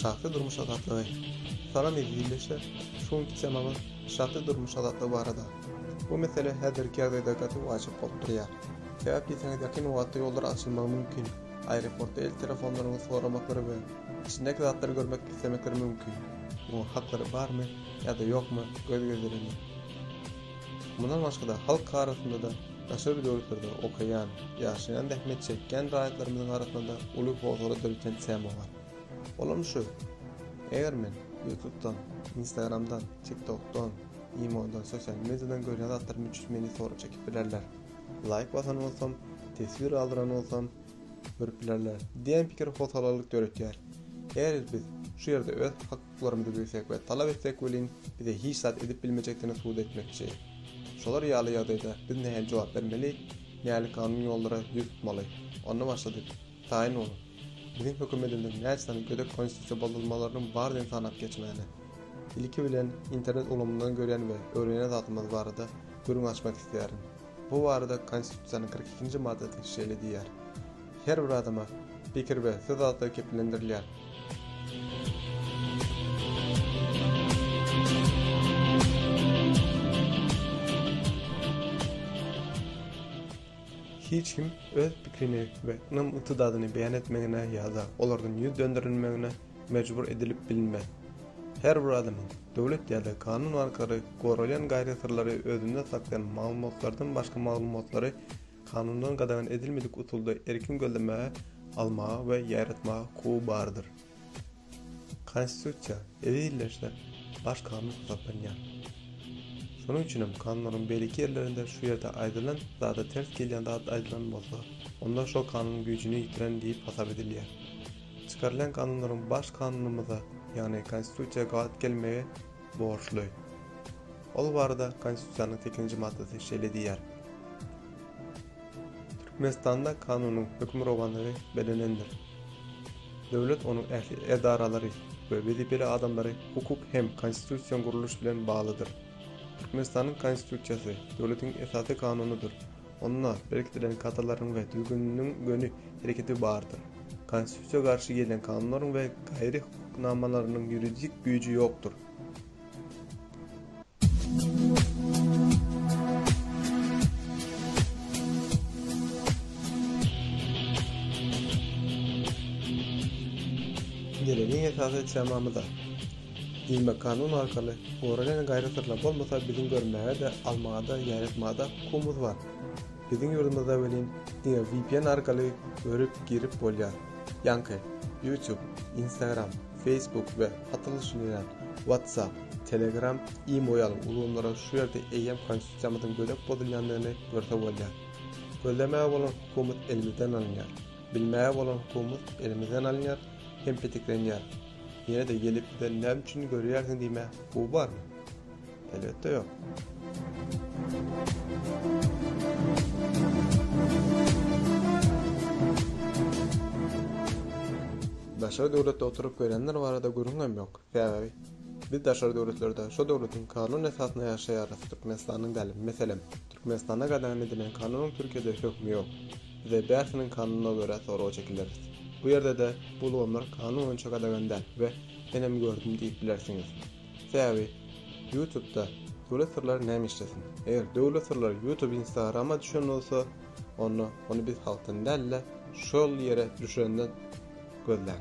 Şahsy durmuş azatlygy. Salam eziz ildeşler! Şu günki temamyz şahsy durmuş azatlygy barada. Bu mesele häzirki ýagdaýda gaty wajyp bolup durýar. Sebäp diýseňiz ýakyn wagtda ýollar açylmagy mümkin, aeroportda el telefonlaryňyzy soramaklary we içindäki zatlary görmek islemekleri mümkin. Muňa haklary barmy ýa-da ýokmy göz gezdireli. Mundan başga-da halk arasynda-da daşary döwletlerde okaýan, ýaşaýan, zähmet çekýän raýatlarymyzyň arasynda uly howsala döreten tema bar. Olam şu, eger men Ýutubdan, Instagramdan, Tiktokdan, imodan, sosial mediadan görýän zatlarym üçin meni sora çekip bilerler, laýk basan bolsam, teswir galdyran bolsam, görüp bilerler diýen pikir howsalalyk döretýär. Eger biz şu ýerde öz Hukuklarymy isleg we talap etsek welin, bize hiç zat edip bilmejekdigini subut etmekçi. Şolar ýaly ýagdaýda biz nähili jogap bermeli, nähili kanun ýollara ýüz tutmaly? Onda başlady, Taýyn boluň. Biziň hökümetimiziň näçe sany gödek konstitusiýa bozulmalarynyň bar diýen sanap geçmäne. Ilki bilen internet ulgamyndan görýän we öwrenýän zatymyz barada gürrüň açmak isleýärin. Bu barada Konstitusiýanyň kyrk ikinji maddasy şeýle diýýär, Her bir adama pikir we söz azatlygy kepillendirilýär. Hiç kim öz pikrini we ynam-ygtydadyny beýan etmegine ýa-da olardan ýüz dönderilmegine mejbur edilip bilinmez. Her bir adamyň döwlet ýa-da kanun arkaly goralýan gaýry-syrlary özünde saklaýan maglumatlardan başga maglumatlary kanundan gadagan edilmedik usulda erkin gözlemäge, almaga we ýaýratmaga hukugy bardyr. Konstitusiýa ezizleşse baş kanun hasaplanýar. Şonuň üçin hem kanunlaryň beýleki ýerlerinde şu ýerde aýdylan zada ters gelýän zat aýdylan bolsa, onda şo kanun güýjüni ýitiren diýip hasap edilýär. Çykarylan kanunlaryň Baş Kanunymyza, ýagny Konstitusiýa gabat gelmegi borçly. Ol barada Konstitusiýanyň sekizinji maddasy şeýle diýýär, Türkmenistanda kanunyň hökmürowanlygy belenendir. Döwlet, onuň ähli edaralary we wezipeli adamlary hukuk hem konstitusion gurluş bilen baglydyr. Türkmenistanyň Konstitusiýasy döwletiň esasy kanunydyr. Onda berkidilen kadalaryň we düzgüniniň göni hereketi bardyr. Konstitusiýa garşy gelýän kanunlaryň we gaýry hukuk namalarynyň ýuridik güýji ýokdur. Geleniň esasy temamyza. Diýmek kanun arkaly goralýan gaýry syrlar bolmasa biziň görmäge-de, almaga-da, ýaýratmaga-da hukumymyz bar. Biziň ýurdumyzda welin diňe vpn arkaly görüp, girip bolýar. Ýaňky, YouTube, Instagram, Facebook we hat alyşylýan WhatsApp, Telegram, imo ýaly ulgamlara şu ýerde eýýäm konstitusiýamyzyň gödek bozulýandygyny görse bolýar. Gözlemäge bolan hukumymyz elimizden alynýar. Bilmäge bolan hukumymyz elimizden alynýar hem petiklenýär. Ýene-de gelip sen näme üçin görýärsiň diýmä bu barmy? Elbetde ýok. Daşary döwletde oturyp görýänler barada gürrüň hem ýok. Sebäbi biz daşary döwletlerde şo döwletiň kanun esasyna ýaşaýarys, Türkmenistanyň däl, meselem, Türkmenistanda gadagan edilen kanunyň Türkiýede hökmi ýok. Bize bärsiniň kanuna görä soraga çekileris. Bu ýerde-de bu ulgamlar kanun boýunça gadagan däl we menem gördüm diýip bilersiňiz. Sebäbi Ýutubda döwlet syrlary näme işlesin. Eger döwlet syrlary Ýutub Instagrama düşen bolsa onda ony biz halkdan däl-de şol ýere düşenden gözläň.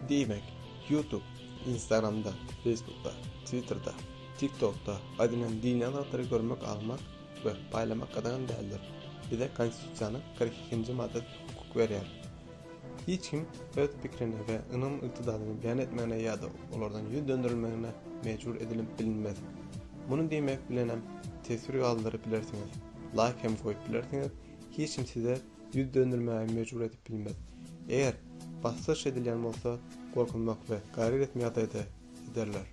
Diýmek, YouTube, Instagramda, Facebookda, Twitterda, TikTokda aýdylan dini azatlary görmek almak we paýlamak gadagan däldir. Bize Konstitusiýanyň kyrk ikinji maddasy hukuk berýär. Hiç kim öz pikirini we ynam-ygtydadyny beýan etmegine ýa-da olardan ýüz dönderilmegine mejbur edilip bilinmez. Muny diýmek bilenem teswir galdyryp bilersiňiz, laýk hem goýup bilersiňiz, hiç kim size ýüz döndermäge mejbur edip bilmez. Eger basgyryş edilýän bolsa, gorkuzmak we gaýrat etme ýagdaýda ederler.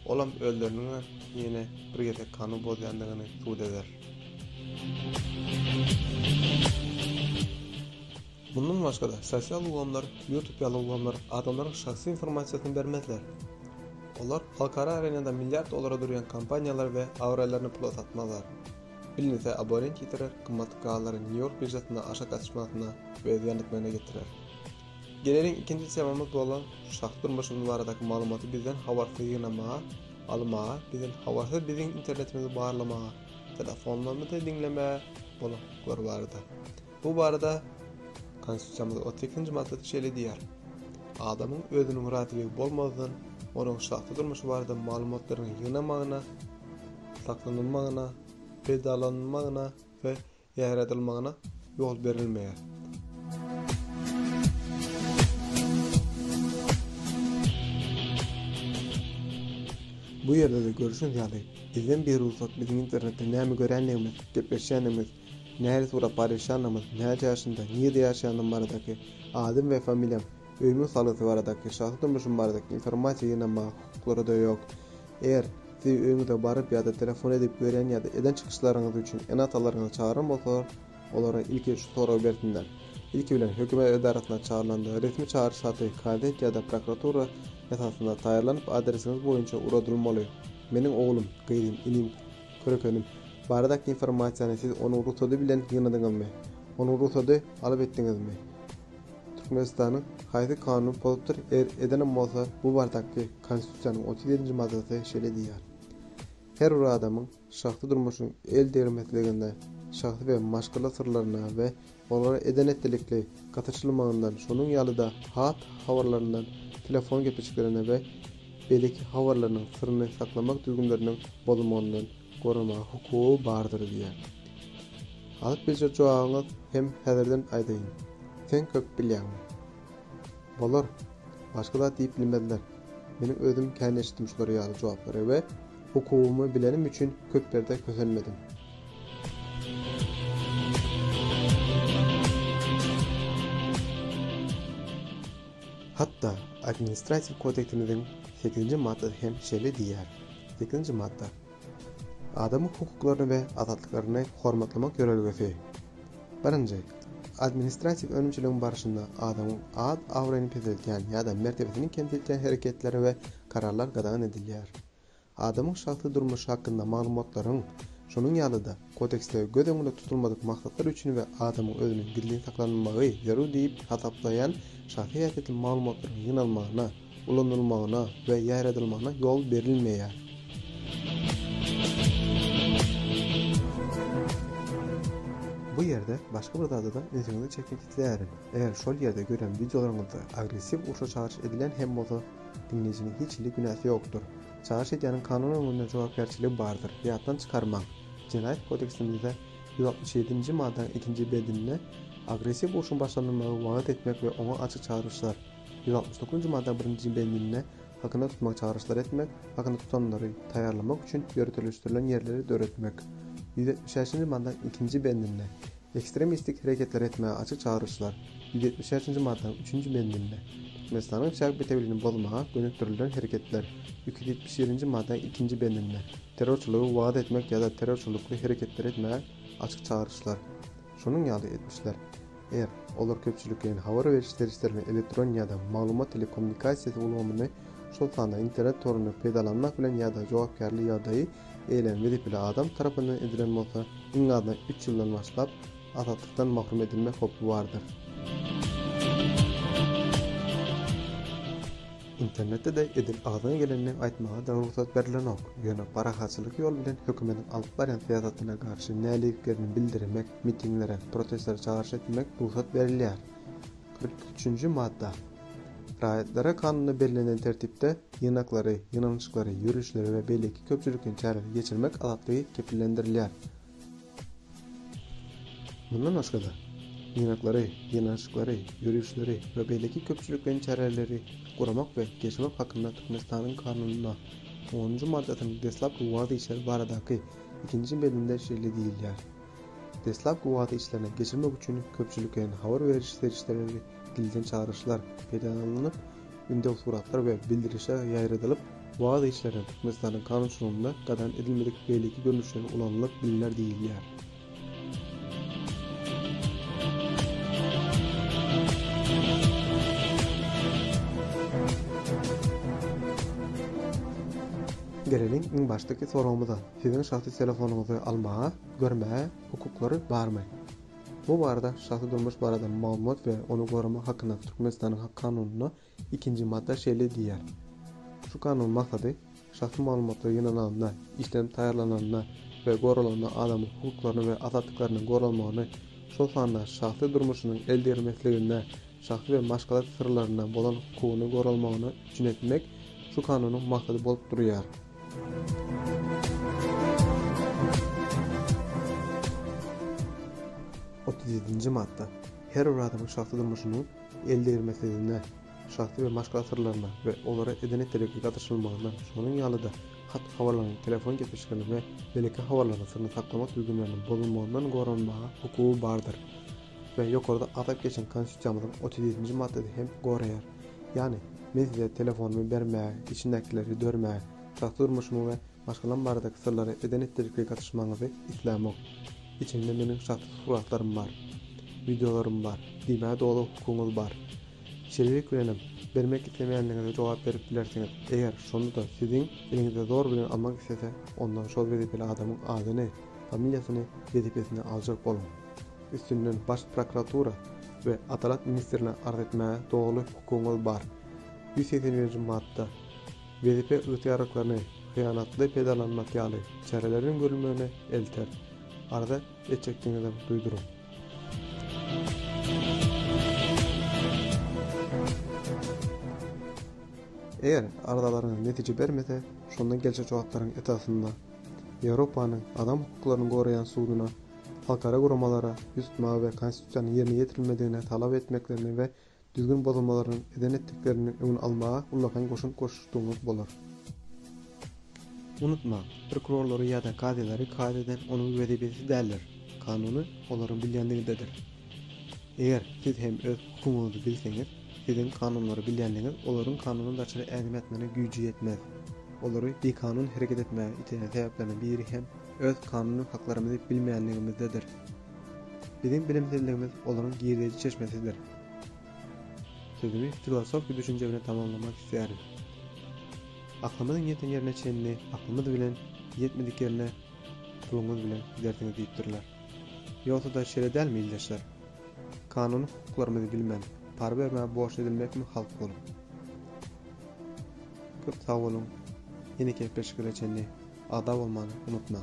Olam özleriniňä ýene bir gezek kanun bozýandygyny subut eder. Mundan başga-da, sosial ulgamlar, YouTube ýaly ulgamlar adamlaryň şahsy informasiýasyny bermezler. Olar halkara arenada milliard dollara durýan kompaniýalary we abraýlaryny pula satmazlar. Bilnse aborent ýitirer, gymmatly gazlary Nýu-Ýork biržasynda aşa gatyşmasyna we zyýan etmegine getirer. Geleýin ikinji temamyz bolan şahsy durmuşymyz baradaky maglumaty bizden habarsyz ýygnamaga, almaga, bizden habarsyz biziň internetimizi barlamaga, telefonlarymyzy diňlemäge bolan hukuklary barada. Bu barada Konstitusiýamyzyň otuz ikinji maddasy şeýle diýýär, Adamyň özüniň razyligi bolmazdan, onuň şahsy durmuşy barada maglumatlaryň ýygnamagyna, saklanylmagyna, peýdalanylmagyna we ýaýradylmagyna ýol berilmeýär. Bu ýerde-de görüşiňiz ýaly, bizden bir rugsat biziň internetde näme görýändigimiz, gepleşýändigimiz, Nähili surap barýşanymyz, näçe ýaşynda, nirede ýaşaýandygym baradaky, adym we familiýam, öýümiň salgysy baradaky, şahsy durmuşym baradaky informasiýa ýygnamaga hukuklary-da ýok. Eger, sizi öýüňize baryp ýa-da telefon edip görýän ýa-da eden çykyşlaryňyz üçin ene-atalaryňyzy çagyran bolsalar, olara ilki şu soragy bersinler. Ilki bilen, hökümet edarasyna çagyrlanda, resmi çagyryş haty, gazet ýa-da prokuratura esasynda taýýarlanyp adresiňiz boýunça ugradylmaly. Meniň oglum, gyzym, inim, Körek önüm. Baradaky informasiýany siz onuň rugsady bilen ýygnadyňyzmy? Onuň rugsady alyp etdiňizmi? Türkmenistanyň haýsy kanuny pozupdyr, eger edenem bolsa bu baradaky Konstitusiýanyň otuz ýedinji maddasy şeýle diýýär, Her bir adamyň şahsy durmuşynyň el degirmesligine, şahsy we maşgala syrlaryna we Olara eden-etdilikli gatyşylmagyndan, şonuň ýaly-da hat habarlaryndan, telefon gepleşiklerinden we beýleki habarlarynyň syryny saklamak düzgünleriniň bozulmagyndan goramaga hukugy bardyr diýýär. Alyp biljek jogabyňyz hem häzirden aýdaýyn. Sen köp bilýäňmi? Bolar. Başga zat diýip bilmezler. Meniň özüm kän eşitdim şular ýaly jogaplary we Hukugymy bilenim üçin köp ýerde kösenmedim. Hatda Administratiw kodeksimiziň sekizinji maddasy hem şeýle diýýär. Sekizinji madda. Adamyň hukuklaryny we azatlyklaryny hormatlamak ýörelgesi. Birinji. Administratiw önümçiligiň barşynda adamyň ad-abraýyny peseltýän ýa-da mertebesini kemsidýän hereketleri we kararlar gadagan edilýär. Adamyň şahsy durmuşy hakynda maglumatlaryň, şonuň ýaly-da, Kodeksde göz öňünde tutulmadyk maksatlar üçin we adamyň özüniň gizlin saklanylmagy zerur diýip hasaplaýan şahsy häsiýetli maglumatlaryň ýygnalmagyna, ulanylmagyna we ýaýradylmagyna ýol berilmeýär. Bu ýerde başga bir zada-da ünsüňizi çekmek isleýärin. Eger şol ýerde gören wideolaryňyzda agressiw urşa çagyryş edilen hem bolsa, Diňleýjiniň hiç hili günäsi ýokdur. Çagyryş edýäniň kanun öňünde jogapkärçiligi bardyr. Ýatdan çykarmaň, Jenaýat kodeksimizde ýüz altmyş ýedinji maddanyň ikinji bendinde agressiw urşuň başlanylmagy wagyz etmek we oňa açyk çagyryşlar, ýüz altmyş dokuzynjy maddanyň birinji bendinde hakynda tutmagy çagyryşlar etmek, hakynda tutanlary taýýarlamak üçin ýöriteleşdirilen ýerleri döretmek, ýüz ýetmiş şäşinji maddanyň ikinji bendinde Ekstremistik hereketlere etmäge açyk çagyryşlar, ýüz ýetmiş bäşinji maddanyň üçünji bendinde, Türkmenistanyň çäk bitewiligini bozmaga gönükdirilen hereketler, iki ýüz ýetmiş ýedinji maddanyň ikinji bendinde, terrorçylygy wagt etmek ýa-da terrorçylykly hereketleri etmäge açyk çagyryşlar, şonuň ýaly etmişler. Er, olar köpçülikleýin habar beriş serişdelerini, elektron ýa-da maglumat telekommunikasiýasy ulgamyny, şol sanda internet toruny peýdalanmak bilen ýa-da jogapkärli ýagdaýy eýlän wezipeli adam tarapyndan edilen bolsa, iň azyndan üç ýyldan başlap, azatlykdan mahrum edilmek howpy bardyr. Internetde-de edil agzyňa gelenini aýtmaga dagy rugsat berilenok. Ýöne parahatçylyk ýol bilen hökümetiň alyp barýan syýasatyna garşy näliliklerini bildiremek, mitinglere, protestlere çagyryş etmek rugsat berilýär. Kyrk üçünji madda. Raýatlara kanunda bellenen tertipde ýygnaklary, ýygnanyşyklary, ýörişleri we beýleki köpçülikleýin çäreleri geçirmek azatlygy kepillendirilýär. Mundan başga-da, ýygnaklary, ýygnanyşyklary, ýörişleri we beýleki köpçülikleýin çäreleri guramak we geçirmek hakynda Türkmenistanyň Kanunyna, onunjy maddasynyň deslapky wagzy içeri baradaky ikinji belinde şeýle diýilýär. Deslapky wada işlerine geçirmek üçin köpçülikleýin habar beriş serişdeleri dilden çagyryşlar peýdalanylyp, ündew suratlar we bildirişler ýaýradylyp, wada işlerine Türkmenistanyň kanunçylygynda gadagan edilmedik beýleki görnüşleri ulanylyp bilner diýilýär. Geleliň iň başdaky soragymyza. Siziň şahsy telefonyňyzy almaga, görmäge hukuklary barmy? Bu barada Şahsy durmuş barada maglumat we ony goramak hakyndaky Türkmenistanyň hak kanunynda ikinji madda şeýle diýýär. Şu kanunyň maksady şahsy maglumatlar ýygnananda, işlenip taýýarlananda we goralanda adamyň hukuklaryny we azatlyklarynyň goralmagyny, şol sanda şahsy durmuşynyň el degirmesligine, şahsy we maşgala syrlaryna bolan hukugyny goralmagyny üpjün etmek şu kanunyň maksady bolup durýar. Otuz ýedinji madda. Her bir adamyň şahsy durmuşynyň eldegirmesizligine, şahsy we maşgala syrlaryna we olara edene telegki gatyşylmagyna, şonuň ýaly-da hat-habarlaryň, telefon gepleşikleriniň we beýleki habarlaryň syryny saklamak düzgünleriniň bozulmagyndan goranmaga hukugy bardyr. we ýokarda atyp geçen Konstitusiýamyzyň otuz ýedinji maddasy hem goraýar. Ýagny, men size telefonymy bermäge, içindekileri dörmäge, şahsy durmuşymy we maşgalam baradaky syrlary eden-etdirjeklige gatyşmagyňyzy islämok. Içinde meniň şahsy suratlarym bar. Wideolarym bar. Diýmäge doly hukugyňyz bar. Şeýlelik bilenem, bermek islemeýänligiňize jogap berip bilersiňiz. Eger, şonda-da siziň eliňizde zor bilen almak islese, onda şol wezipeli adamyň adyny, familiýasyny, wezipesini aljak boluň. üstünden Baş prokuratura we Adalat ministrine arz etmäge doly hukugyňyz bar. Ýüz segsen birinji madda. Wezipe ygtyýarlyklaryny hyýanatly peýdalanmak ýaly çäreleriň görülmegine elter. Arza etjekdigiňizem duýduryň. Eger arzalaryňyz netije bermese, şonda geljek jogaplaryň esasynda Ýewropanyň Adam hukuklaryny goraýan suduna halkara guramalara ýüz tutmaga we Konstitusiýanyň ýerine ýetirilmedigini talap etmeklerini we düzgün bozulmalarynyň eden-etdikleriniň öňüni almaga ullakan goşant goşuşdygyňyz bolar. Unutmaň, prokurorlary ýa-da kazylary kaýyl eden onuň wezipesi däldir, kanuny olaryň bilýänligindedir. Eger siz hem öz hukugyňyzy bilseňiz, siziň kanunlary bilýänligiňiz olaryň kanuny daşary ädim ätmegine güýji ýetmez. Olary bikanun hereket etmäge iteýän sebäpleriň biri hem, öz kanuny haklarymyzy bilmeýänligimizdedir. Biziň bilimsizligimiz olaryň girdeýji çeşmesidir. Sözümi filosofiki düşünje bilen tamamlamak isleýärin. Aklymyzyň ýeten ýerine çenli aklymyz bilen, ýetmedik ýerine puluňyz bilen gidersiňiz diýipdirler. Ýogsa-da şeýle dälmi ildeşler? Kanuny hukuklarymyzy bilmän, para bermä borç edilmekmi halk bolup? Köp sag boluň, ýeneki gepleşiklere çenli Agza bolmany unutmaň.